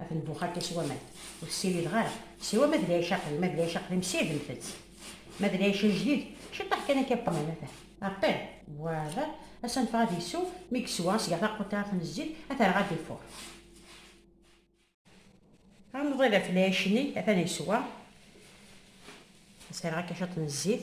Ad nbux akka s waman, ur tessirideɣ ara. S waman d lɛic aqdim, ma d lɛic aqdim ssirdent-tt, ma d lɛic ajdid ciṭṭaḥ kan akka qqnen atan. Apel. Voilà, ad s-anfeɣ ad isew, mi yeswa ad s-geɣ taquṭiɛt n zzit, ad t-rreɣ ad d-ifuṛ. Ad nḍil ɣef lɛic-nni, atan yeswa, ad s-rreɣ akka ciṭ n zzit.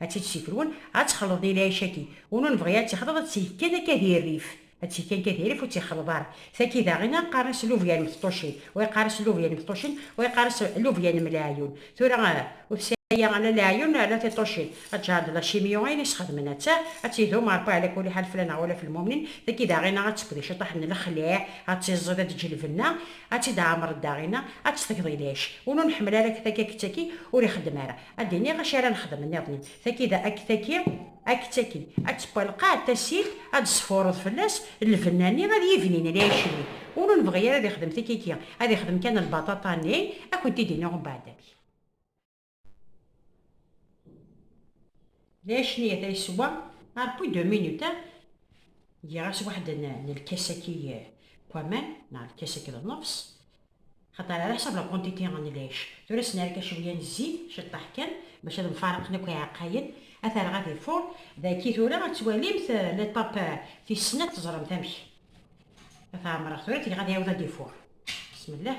Ad tt-id-sikrun, ad tt-xleḍ di lɛic-agi, unu nebɣi ad tt-ixleḍ, ad tt-ig kan akka di rrif, ad tt-ig kan akka di rrif ur tt-ixleḍ ara. Tagi daɣi a qqaren-as lubya n Meṭṭucin, wa yeqqar-as lubya n Meṭṭucin, wa yeqqar-as lubya n Mleɛyun. Tura ur tesɛi ala leɛyun ala tiṭṭucin. Aǧar d lacimyu ayen i sxedmen atta, ad tt-idum Rebbi ɛla kuli ḥal fell-aneɣ wala f lmumnin. Tagi daɣi a tt-tefk di ciṭṭaḥ n lexliɛ, ad tt-iẓẓid, ad d-teǧǧ lbenna, ad tt-id-ɛemren daɣi, ad tt-teg di lɛic. Unu neḥmel ara tagi akked tagi ur ixeddem ara. Ad d-iniɣ acu ara nexdem nniḍen. Taki da akk taki akk taki. Ad teqqalqaɛ tasilt, ad d-sfureḍ fell-as lbenna-nni, ad yibnin lɛic-nni. Win ur nebɣi ara ad ixdem tikiki, ad ixdem kan lbaṭaṭa-nni, ad kent-id-iniɣ umbeɛd amek. Lɛic-nni ata yeswa arpu deux minutes, giɣ-as waḥed n lkas-agi n waman, neɣ lkas-agi d nnefs. Axaṭer ɛla ḥsab la quantité n lɛic, tura s-nerka cewya n zzit, ciṭṭaḥ kan, bac ad mfaraqen akk iɛeqqayen, aterɣa di fur, daki tura ad twalimt l'étape tis snat teẓremt amek ad t-ɛemreɣ tura ad t-geɣ ad iɛiwed ad d-ifur. Bismillah.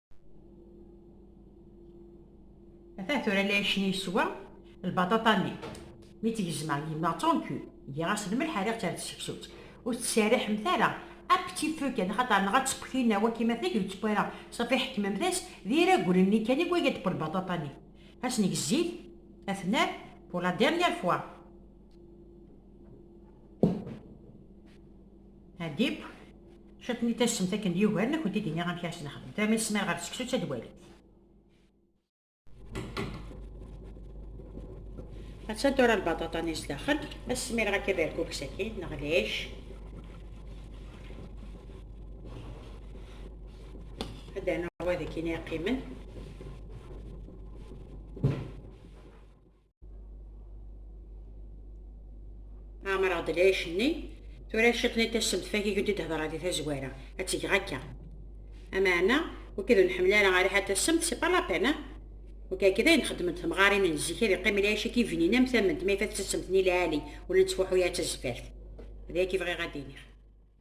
Ata tura la yecni yeswa lbaṭaṭa-nni. Mi tt-gezmeɣ yemma tonku, giɣ-as lmelḥ rriɣ-tt ar tseksut. Ur tettserriḥemt ara, un petit feu kan, axaṭer neɣ ad teṭṭef tinna waki ma tagi ur teṭṭef ara, safi ḥekmemt-as d iraglen-nni kan i wagi ad d-qqel lbaṭaṭa-nni. Ad sen-neg zzit, ad t-nerr pour la dernière fois. Adib, cwiṭ n yitassemt akken d yugaren ad kent-id-iniɣ amek ara s-nexdem. Tama yesmar ɣer seksu d tadwalit. Attan tura lbaṭaṭa-nni sdaxel, ad smireɣ akka berkuk sakin neɣ lɛic. Ad d-rnuɣ wadakin i yeqqimen. Ɛemreɣ-d lɛic-nni, tura ciṭ n tasemtfag i k-d-id-hedreɣ di tazwara, ad tt-geɣ akka. Ameɛna, wi k-id ur nḥemmel ara a riḥa tasemt, c'est pas la peine, hein? Wi k-akka i dayen xeddment temɣarin n zik, ad iqqim lɛic i k-ibnin am tament, ma ifat-tt ad temtni lɛali, ur la nettfuḥu ara d tazeffart. D aya i k-bɣiɣ ad d-iniɣ.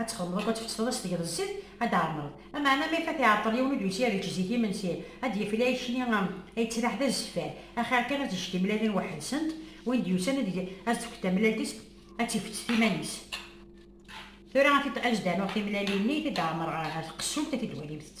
ad txedmeḍ akk ad tfetteḍ ad s-tgeḍ zzit ad d-tɛemmreḍ. Ameɛna ma ifat iɛeṭṭel yiwen ur d-yusi ad yečč zik imensi, ad d-yefli ayekni ay yettraḥ d azeffar, axir kan ad tejj timellalin weḥd-sent, win d-yusan ad as-d-tefk tamellalt-is ad tt-ifett iman-is. Tura ad t-id-anuɣ timellalin-nni, ad t-id-ɛemmreɣ ɣer tqessult ad t-id-twalimt-tt.